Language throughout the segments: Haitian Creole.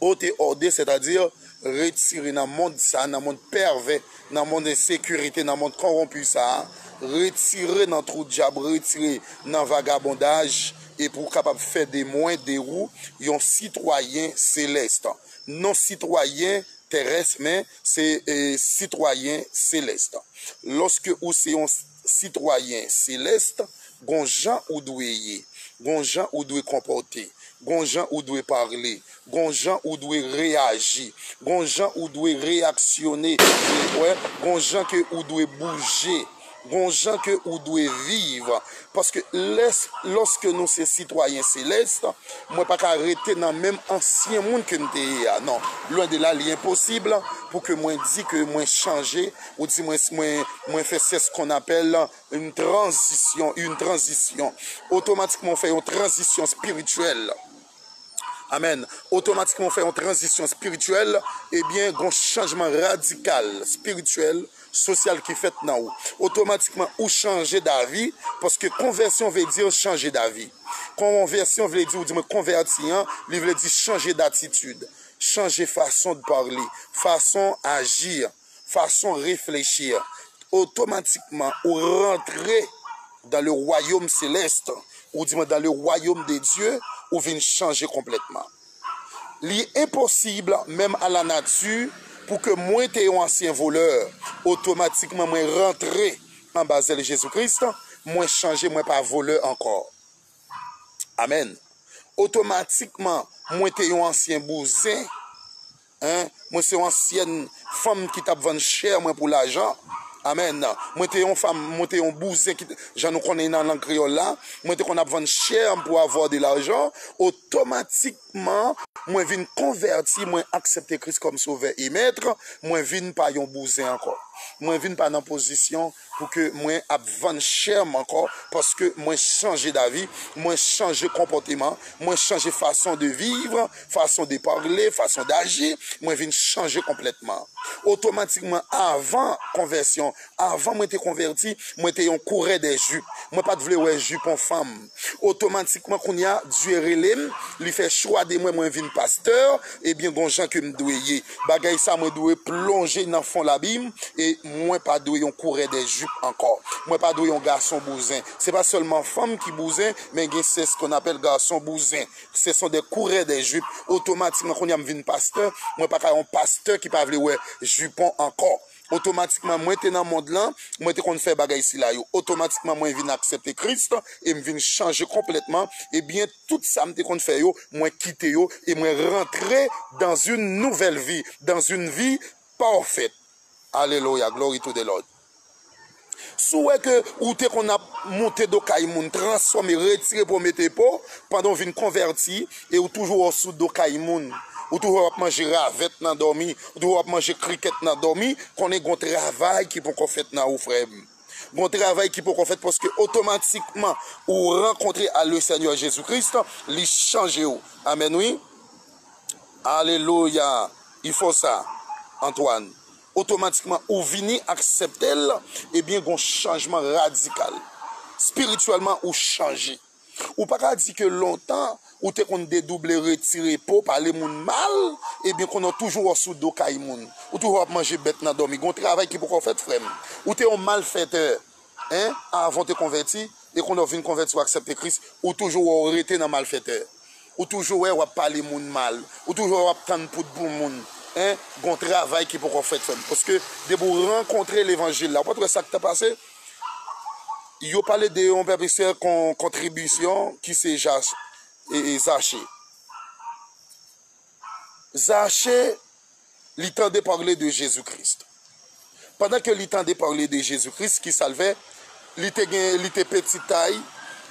Ôter hors de, c'est-à-dire retire nan mond sa, nan mond pèvè, nan mond ensekirite, nan mond kòwonpi sa, retire nan twou dyab, retire nan vagabondaj e pou w kapab fè de mwen, de ou, yon sitwayen selèst. Non sitwayen tèrès men se sitwayen selèst. Lòske ou se yon. Sitwayen Celeste, gon jan ou dwe ye, gon jan ou dwe konpòte, gon jan ou dwe parle, gon jan ou dwe reyaji, gon jan ou dwe reyaksyone, gon jan ke ou dwe bouje, gon jan ke ou dwe viv. Paske lè, lòske nou se sitwayen Celeste, mwen pa ka rete nan menm ansyen moun ke m te ye a. Non, lwen de la, li enposib pou ke mwen di ke mwen chanje. Ou di mwen mwen fè sè s kòn apèl yn tranzisyon yn tranzisyon otomatikman ou fè yon tranzisyon spirityèl amèn otomatikman ou fè yon tranzisyon spirityèl ebyen gon chanjman radikal spirityèl sosyal ki fèt nan ou otomatikman ou chanje davi paske konvèsyon vle di chanje davi konvèsyon vle di ou di mwen konvèti an li vle di chanje datitid chanje fason de parle fason ajir. Fason reflechi a, otomatikman ou rantre dan le wayom selès, ou di mwen dan le wayom de Dye, ou vin chanje konplètman. Li enposib menm a la nati pou ke mwen te yon ansyen volè, otomatikman mwen rantre anba zèl Jezi Kris, mwen chanje mwen pa volè ankò. Amèn. Otomatikman mwen te yon ansyen bouzen. Hein mwen se yon ansyèn fanm ki tap vann chè mwen pou lajan amen mwen te yon fanm mwen te yon bouzen ki jan nou konnen nan lang kreyòl la mwen te konn ap vann chè m pou avwa de lajan otomatikman mwen vin konvèti mwen aksèpte kris kòm sovè e mèt mwen vin pa yon bouzen ankò mwen vin pa nan pozisyon Pou ke mwen ap vann chè m ankò, paske mwen chanje davi, mwen chanje konpòteman, mwen chanje fason de viv, fason de parle, fason daji, mwen vin chanje konplètman. Otomatikman avan konvèsyon, avan mwen te konvèti, mwen te yon kourè dè jup. Mwen pat vle wè jupon fanm. Otomatikman kounye a, Dye rele m, li fè chwa de mwen, mwen vin pastè, ebyen gon jan ke m dwe ye. Bagay sa mwen dwe plonje nan fon labim e mwen pa dwe yon kourè dè jup ankò. Mwen pa dwe yon gason bouzen. Se pa sèlman fanm ki bouzen, men gen sè skonn apèl gason bouzen. Sè son dè kourè dè jup. Otomatikman kounye a m vin pastè, mwen pa ka yon pastè ki pa vle wè jupon ankò. Otomatikman mwen te nan mond lan, mwen te konn fè bagay sila yo. Otomatikman mwen vin aksepte Kris e m vin chanje konplètman, ebyen tout sa m te konn fè yo, mwen kite yo e mwen rantre dans une nouvelle vie, dans une vie parfaite. Alelouya, glory to the Lord. Si w wè ke ou te konn ap moute do kay moun, transfòme, retire po mete po, pandan ou vin konvèti e ou toujou wè w sou do kay moun, ou toujou wè w ap manje ravèt nan dòmi, ou toujou wè w ap manje krikèt nan dòmi, konnen gon travay ki poko fèt nan ou frè m. Gon travay ki poko fèt paske otomatikman ou rankontre a Le Senyè Jezi Kris, li chanje w. Amèn wi. Alelouya. I fò sa, Antwàn. otomatikman ou vini aksepte l, ebyen gon chanjman radikal. Spirityèlman ou chanje. Ou pa ka di ke lontan ou te konn dedouble, retire po, pale moun mal, ebyen konnen w toujou wè w sou do kay moun. Ou toujou ap manje bèt nan dòmi. Gon travay ki poko fèt frè m. Ou te yon malfètè 1, Avan w te konvèti, e kounye a w vin konvèti, w aksèpte Kris, ou toujou wè w rete nan malfètè. Ou toujou wè w ap pale moun mal. Ou toujou wè w ap tann pou dbon moun. 1, Gen yon travay ki poko fèt, frè m. Paske depi w rankontre levanjil la, ou pa t wè sa k te pase? Yo pale de yon pèp Izrayèl kon kontribisyon ki se Zache. Zache, li tande parle de Jezi Kris. Pandan ke li tande parle de Jezi Kris ki salvè, li te gen, li te peti tay,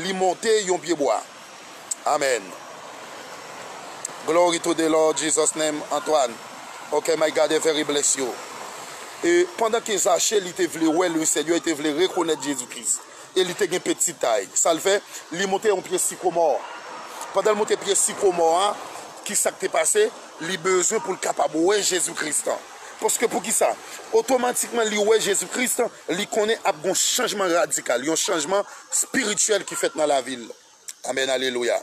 li monte yon pye bwa. Amen. Glory to the Lord Jesus name, Antoine. Ok my God every bless you. E pandan ke Zache li te vle wè le Senyè, li te vle rekonèt Jezi Kris. E li te gen peti tay. Sa l fè? Li monte yon pye sikomò. Pandan l monte pye sikomò a, ki sa k te pase? Li bezwen pou l kapab wè Jezi Kris la. Paske poukisa? Otomatikman li wè Jezi Kris la, li konnen ap gen yon chanjman radikal, yon chanjman espirityèl ki fèt nan lavi l. Amèn! Alelouya!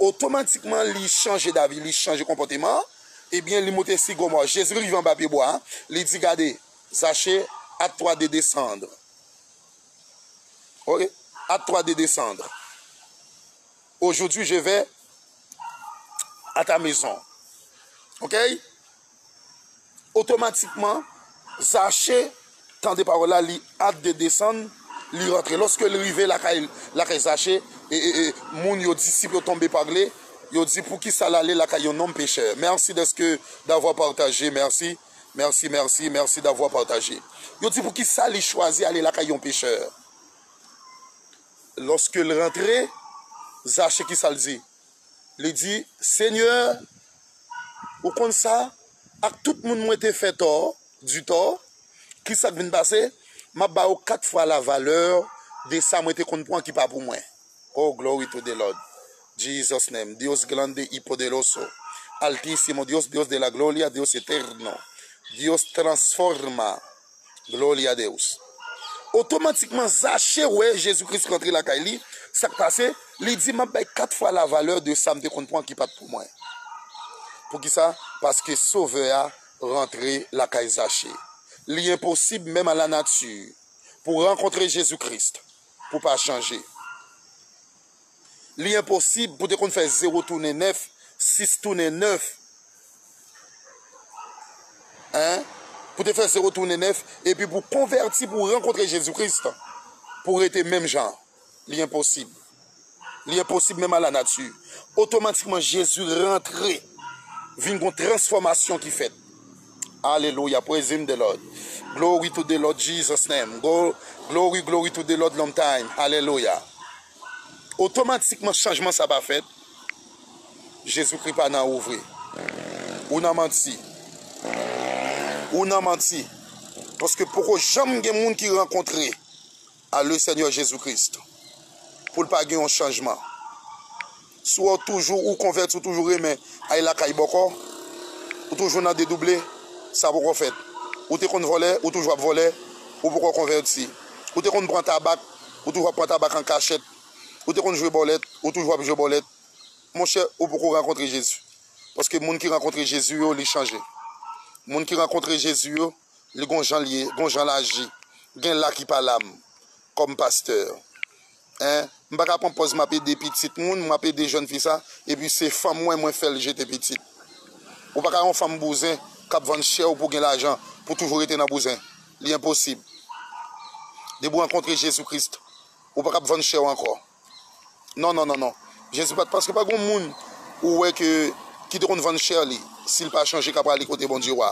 Otomatikman li chanje davi, li chanje konpòteman an. Ebyen, li monte sikomò a. Jezi rive anba pyebwa a, li di, Gade, Zache, a twa de desandr. Ok a toi de desandre aujourd'hui je vais a ta maison ok otomatikman zache tande pawòl la li at de desann li rantre loske li rive lakay lakay zache ee moun yo disip yo tonbe pagle yo di poukisa lale lakay yon nonm pechè merci deske davwa partaje merci. Merci merci merci d'avoir partagé yo di poukisa li chwazi ale lakay yon pechè lorsque l rantre zache kisa l di li di seigneur ou konn sa ak tout moun mwen te fè tò du tort kisa k vin pase map ba yo 4 fwa la valeur de sa mwen te konn pran ki pa pou mwen. Oh glory to the Lord Jesus name Dios grande y poderoso Altísimo Dios Dios de la gloria Dios eterno Dios transforma Gloria a Deus Otomatikman Zache wè Jezi Kris rantre lakay li Sak pase Li di map bay 4 fwa la valè de sam te konn pran ki pat pou mwen Poukisa paske sovè a rantre lakay Zache Li enposib menm a la nati pou rankontre Jezi Kris pou pa chanje. Li enposib pou te konn fè zewo tounen nèf, sis tounen nèf, en, pou te fè zewo tounen nèf, epi pou konvèti pou rankontre Jezi Kris, pou rete menm jan an. Li enposib. Li enposib menm a la nati. Otomatikman Jezi rantre, vin gon transfòmasyon ki fèt. Alelouya praise him the Lord glory to the Lord Jesus name glory glory to the Lord long time alelouya otomatikman chanjman sa pa fèt Jezikri pa nan ou vre ou nan manti ou nan manti paske poko janm gen moun ki rankontre A le Seigneur Jesus Christ poul pa gen yon chanjman sou ou toujou ou konvèti ou toujou renmen ay lakay bòkò ou toujou nan dedouble sa poko fèt ou te konn vòlè ou toujou ap vòlè ou poko konvèti ou te konn pran tabak ou toujou ap pran tabak an kachèt ou te konn jwe bòlèt ou toujou ap jwe bòlèt monchè ou poko rankontre Jesus paske moun ki rankontre Jesus yo li chanje moun ki rankontre Jesus yo. Li gon janl ye gon janl aji gen la ki pa lam kòm pastè hein m paka pran pòz map ede pitit moun map ede jèn fi sa epi se fanm mwen mwen fèl jete pitit ou paka yon fanm bouzen kap vann chèw pou gen lajan pou toujou rete nan bouzen li enposib depi ou rankontre Jezi Christ ou pakab vann chèw ankò. Non non non non Jezi pat paske pa gon moun ou wè ke ki te konn vann chè li sil pa chanje ka prale kote Bondye wa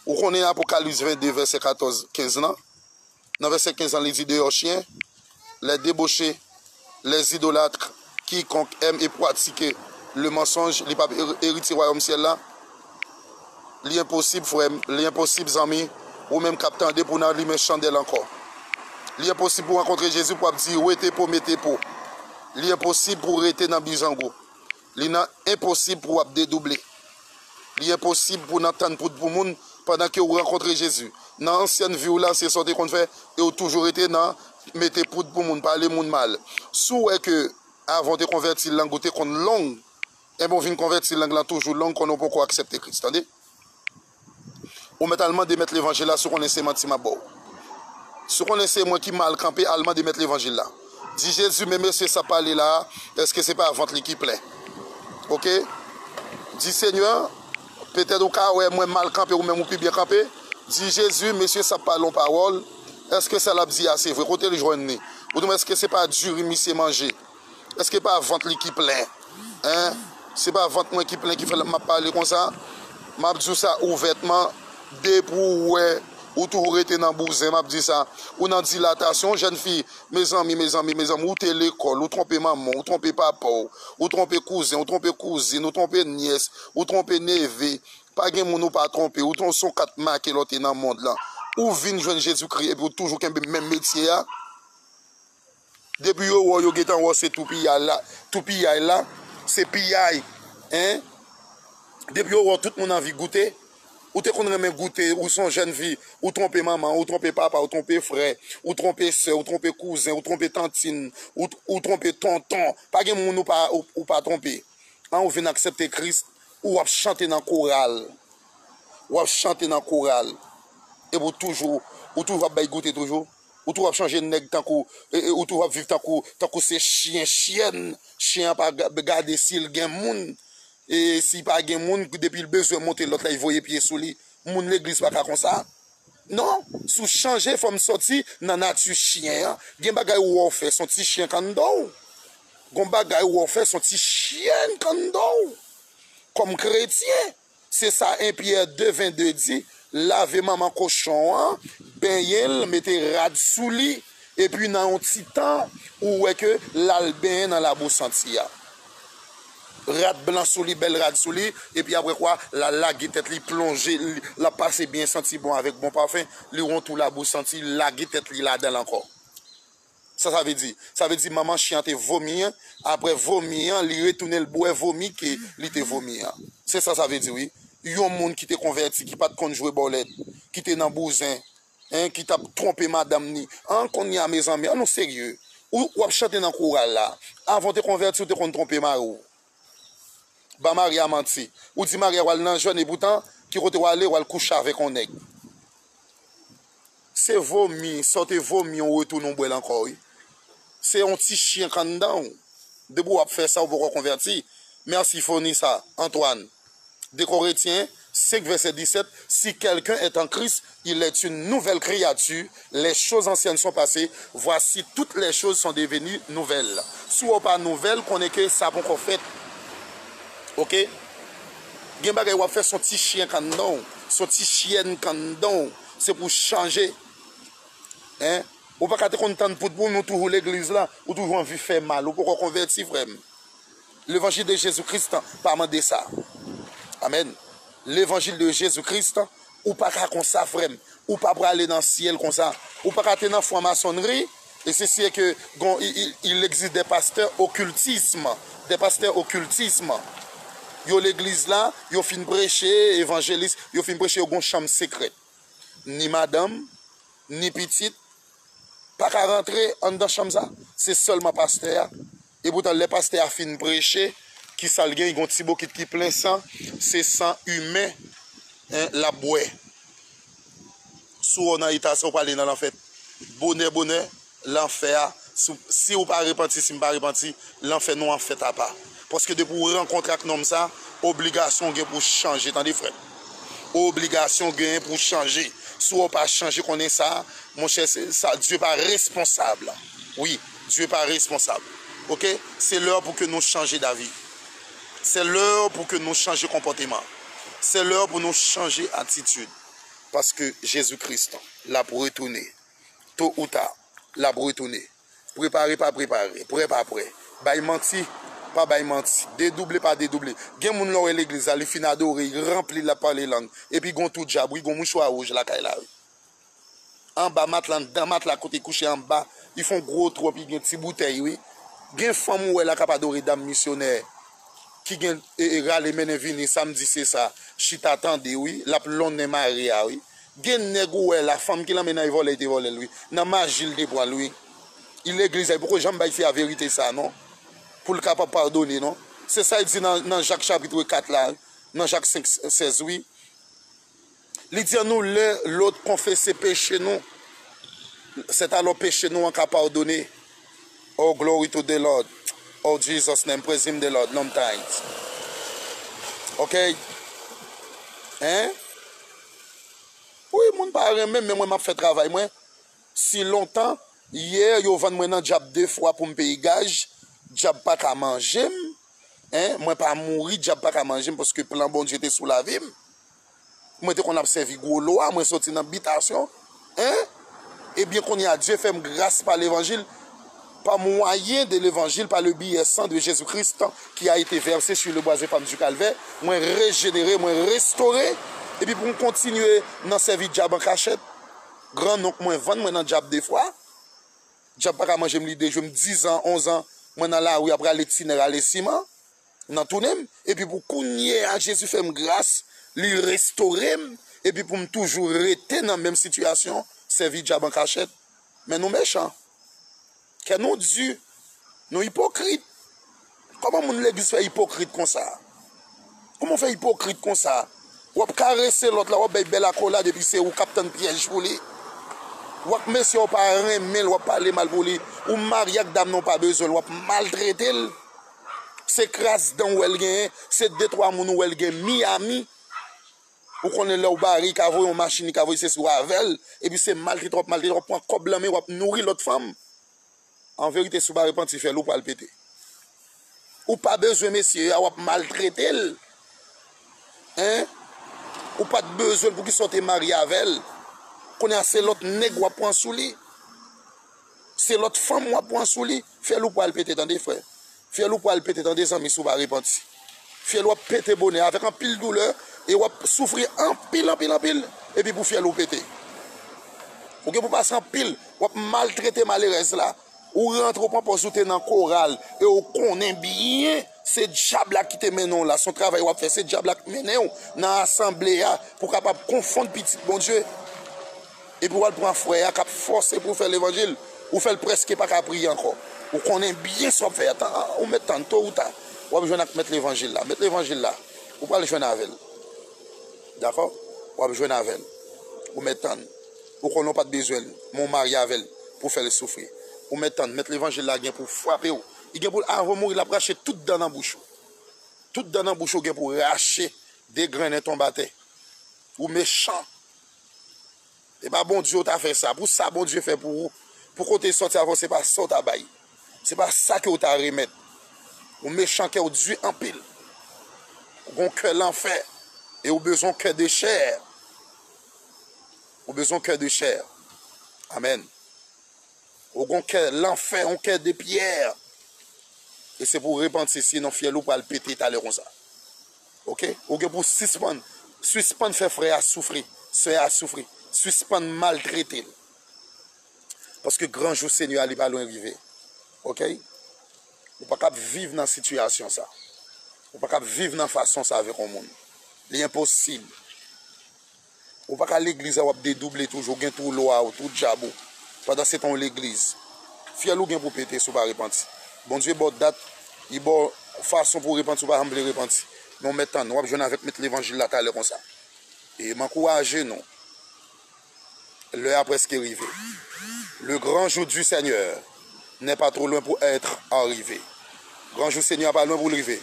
ou konnen apokalyps 22 vèsè 14 15 lan nan vèsè 15 lan li di deyò chyen lè deboche lè zidolatre kikonk èm e pwatike le mansonj li pap eritye wayòm syèl la. Li enposib frèm, li enposib zanmi, ou menm kap tande pou nan limen chandèl ankò. Li enposib pou rankontre Jezi pou ap di wete po mete po. Li enposib pou rete nan bizango. Li nan enposib pou ap dedouble. Li enposib pou nan tann poud pou moun pandan ke ou rankontre Jezi. Nan ansyen viw la se sa ou te konn fè e ou toujou rete nan mete poud pou moun, pale moun mal. Si w wè ke avan ou te konvèti lang ou te konn long. Ebon vin konvèti lang lan toujou long konnen ou poko aksèpte Kris tande. Ou mèt al mande mèt levanjil la si ou konnen se manti map baw. Si ou konnen se mwen ki mal kanpe al mande mèt levanjil la. Di Jezi men mesye sa pale la eske se pa vant li ki plen. Ok di senyè petèt ou ka wè mwen mal kanpe ou menm ou pi byen kanpe di Jezi mesye sa pale yon pawòl eske sa lap di a se vre kotel jwenn li ou di mwen eske se pa diri misye manje. Eske pa vant li ki plen hein se pa vant mwen ki plen ki fè map pale konsa map diw sa ouvètman depi ou wè ou toujou rete nan bouzen map di sa ou nan dilatasyon jèn fi mezanmi mezanmi mezanmi ou te lekòl ou twonpe manmanw ou twonpe papaw ou twonpe kouzenw ou twonpe kouzin ou twonpe nyès ou twonpe neve pa gen moun ou pa twonpe ou son kat make lòte nan mond lan ou vin jwenn Jezikri epi ou toujou kenbe menm metye a. Depi yo wè w yo gentan wè w se toupiyay la, se piyay hein. Depi yo wè w tout moun anvi goute, ou te konn renmen goute, ou son jèn fi, ou twonpe manman w, ou twonpe papa w, ou twonpe frè, ou twonpe sè, ou twonpe kouzen, ou twonpe tantin, ou twonpe tonton, pa gen moun ou pa twonpe an, ou vin aksepte Kris, ou ap chante nan koral, ou ap chante nan koral epi w toujou ap bay goute toujou. Ou tou ap chanje nèg tankou ou tou ap viv tankou tankou se chyen chyèn chyen an pa gade sil gen moun e si pa gen moun depil bezwen monte lòt lay voye pye sou li moun legliz pa ka konsa non sou chanje fòm sòti nan nati chyen an gen bagay ou wè ou fè son ti chyen kanndan ou gon bagay ou wè ou fè son ti chyèn kanndan ou kòm kretyen. Se sa 1 Pyè 2, 22 di, Lave manman kochon an, benyen l, mete rad sou li, epi nan yon ti tan, ou wè ke l al benyen nan labou santi a. Rad blan sou li, bèl rad sou li, epi apre kwa, l al lage tèt li, plonje, l ap pase byen santi bon avèk bon pafen, li wè yon tou labou santi, lage tèt li ladan l ankò. Sa sa vle di? Sa vle di manman chyen an te vomi aprè vomi an li retounen l bwè vomi ke li te vomi an. Se sa sa vle di wi. Yon moun ki te konvèti ki pat konn jwe bòlèt, ki te nan bouzen, hein, ki tap twonpe madanm ni. An kounye a mezanmi an nou serye. Ou wap chante nan koral la. Avan w te konvèti ou te konn twonpe mari w. Ba Maria manti. Ou di Maria wal nan jèn epoutan ki kote wale wal kouche avèk yon nèg. Se vomi sa w te vomi ou retounen ou bwè l ankò wi. Se yon ti chyen k anndan w. Depi wap fè sa ou poko konvèti. Merci Fonisa, Antoine. 2 Koretyen 5 vèsè 17 Si kèlken èt an Kris, il èt yn nouvèl kreyati, lèchoz ansyèn son pase, vwasi tout lèchoz son deveni nouvèl. Si wè w pa nouvèl, konnen ke sa ponkò fèt. Ok. Gen bagay w ap fè son ti chyen k anndan w, son ti chyèn k anndan w, se pou w chanje. Hein. Ou pa ka te konn tann poud pou nou toujou legliz la, ou toujou anvi fè mal, ou poko konvèti frè m. Levanjil de Jezi Kris lan pa mande sa. Amen. Levanjil de Jezi Kris lan ou pa ka konsa frem ou pa prale nan syel konsa ou pa ka te nan fwa masonri e se si e ke gon il existe des pasteurs occultisme des pasteurs occultisme yo legliz la yo fin preche evanjelis yo fin preche yo gon chanm sekret ni madanm ni pitit pa ka rantre andan chanm sa se selman pasteur a Epoutan lè pastè a fin preche kisal gen gon ti bokit ki plen san se san imen lap bwè si ou nan eta sa ou prale nan lanfè bonè bonè lanfè a siw pa repanti sim pa repanti lanfè nou an fèt apa paske depi ou rankontre ak nonm sa obligasyon ou gen pou chanje tande frèm obligasyon ou genyen pou chanje si ou pa chanje konnen sa monchè sa Dye pa responsab wi. Dieu pa responsab ok se leur pou ke nou chanje davi sè leur pou ke nou chanje konpòteman sè leur pou nou chanje atitud paske jezi kris lap retounen to ou ta lap retounen prepare pa prepare prè pa prè bay manti pa bay manti dedouble pa dedouble gen moun lè ou wè legliz la li fin adore li ranpli lap pale lang epi gon tou djab wi gon mouchwa rouj lakay la wi. anba matla andan matla kote kouche anba li fon gro trou epi gen ti boutèy wi gen fanm ou wè la kap adore dam misyonè ki gen rale mennen vini sam di se sa chita tande wi lap lonnen mari a wi gen nèg ou wè la fanm ki lan mennay vòlè li te vòlèl wi nan maji li te pranl wi i legliz la li poko janm bay fi a verite sa non poul kapab padone non se sa li di nan jak chapitre 4 la nan jak 5 16 wi. Li di an nou lè lòt konfese peche nou, sèt alò peche nou an ka padone. Oh glory to the Lord oh Jesus name praise him the Lord nom times ok hein wi moun pa renmenm men mwen map fè travay mwen si lontan hier yo vann mwen nan djab 2 fwa poum peye gaj djab paka manjem. Hein mwen pa mouri dyab paka manjem paske plan Bondye te sou lavim mwen te konn ap sèvi gwo lwa mwen soti nan bitasyon hein ebyen konnya Dye fèm gras pa levanjil pa mwayen de levanjil pa le biyè san de Jezi Kris tan ki a ete vèse su le bwa ze fam du kalvè mwen rejenere mwen restore epi poum kontinye nan sèvi dyab ankachèt gran nonk mwen vann mwen nan dyab de fwa. Dyab pa ka manje m li dejwe m dizan, onzan mwen nan lari ap rale tine rale siman nan tounen m epi pou kounyeya Jezi fè m gras li restore m epi pou m toujou rete nan menm sitiyasyon sèvi dyab an kachèt men nou mechan kè nou di nou ipokrit. Koman moun legliz fè ipokrit konsa. Koman w fè ipokrit konsa. Wap karese lot la wap bay bel akolad epi se ou kap tann pyej pou li. Ou ak mesye a ou pa renmen l wap pale mal pou li. Ou marye ak dam nan ou pa bezwen l wap maltrete l. Se kras dan ou wè l genyen. Se de twa moun ou wè l gen Miami. Ou konnen lè ou bare li ka voye yon machin li ka voye sesi ou avè l. Epi se maltrete wap maltrete wap pran kob lan men wap nouri lot fanm. An verite si w pa repanti fèl ou pral pete. Ou pa bezwen mesye a wap maltrete l hein ou pat bezwen l poukisa w te marye avè l kounye a se lòt nèg wap pran sou li se lòt fanm wap pran sou li fèl ou pral pete tande frè. Fyèl ou pwal pete tande zanmi si ou pa repanti. Fyèl ou ap pete bonè avèk anpil doulè e ou ap soufri anpil anpil anpil epi pou fyèl ou pete. Ou gen pou pase anpil, ou ap maltrete malerèz la, ou rantre ou pran pòz ou te nan koral e ou konnen byen se dyab la ki te mennen ou la, son travay ou ap fè se dyab la k mennen ou nan asanble a pou kapab konfonn pitit Bondye. Epi wal pran frè a kap fòse pou fè levanjil ou fèl prèske paka priye ankò ou konnen byen sa wap fè a ou mèt tann to ou ta wap jwenn ak mèt levanjil la mèt levanjil la ou pral jwenn avèl dakò wap jwenn avèl ou mèt tann ou konnen ou pat bezwenl men ou marye avèl pou fèl soufri ou mèt tann mèt levanjil la gen pou frapew li gen pou avan mouri lap rache tout dan nan bouch ou tout dan nan bouch ou gen pou rache degrennen tonbe atè ou mechan. Epa Bondye ou ta fè sa. Pou sa Bondye fè pou ou, pou kote sòti avèw se pa sa ou ta bay. Se pa sa ke ou ta remèt. Ou mechan kèw du anpil. Ou gon kè lanfè e ou bezon kè de chè. Ou bezon kè de chè. Amen. Ou gon kè lanfè, yon kè de pyè. E se pou repanti si non fyèl ou pral pete talè konsa. Ok ou gen pou sispann sispann fè frè a soufri sè a soufri sispann maltretel paske gran jou senyè a li pa lwen rive ok ou pa kab viv nan sitiyasyon sa ou pa kab viv nan fason sa avèk yon moun li enposib. Ou pa ka legliz a wap dedouble toujou gen twou lwa ou twou djab ou pandan se tan ou legliz fyèl ou gen pou pete si ou pa repanti Bondye baw dat li baw fason pou repanti ou pa janm vle repanti non mèt tann wap jwenn avèk mèt levanjil la talè konsa e m ankouraje nou lè a preske rive le gran jou du seigneur. N'est pas trop loin pour être arrivé. Gran jou Senyè a pa lwen pou l rive.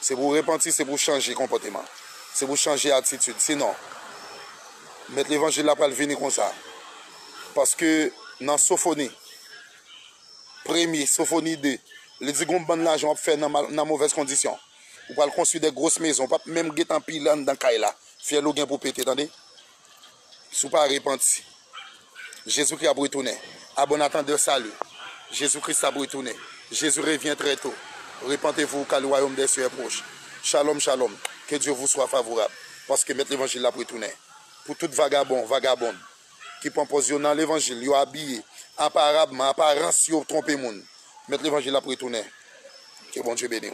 Se pou w repanti, se pou w chanje konpòteman, se pou w chanje atitid. Sinon, Mèt levanjil la pral vini konsa. Paske nan Sofoni, premye, Sofoni 2, li di gon bann lajan w ap fè nan movèz kondisyon. Ou pral konstwi de gros mezon, w pap menm gentan pile anndan kay la. Fyèl ou gen pou pete, tande. Si w pa repanti, Jezikri ap retounen. A bon atandè sali, Jezi Kris ap retounen. Jezi revyen trè to. Repantevou ka le wayom dè sye è pwoch. Shalom shalom ke Dye vou swa favorab paske mèt levanjil la ap retounen pou tout vagabon vagabond ki pwan pòz yo nan levanjil yo abiye aparabman aparans yo twonpe moun mèt levanjil ap retounen ke Bondye beniw.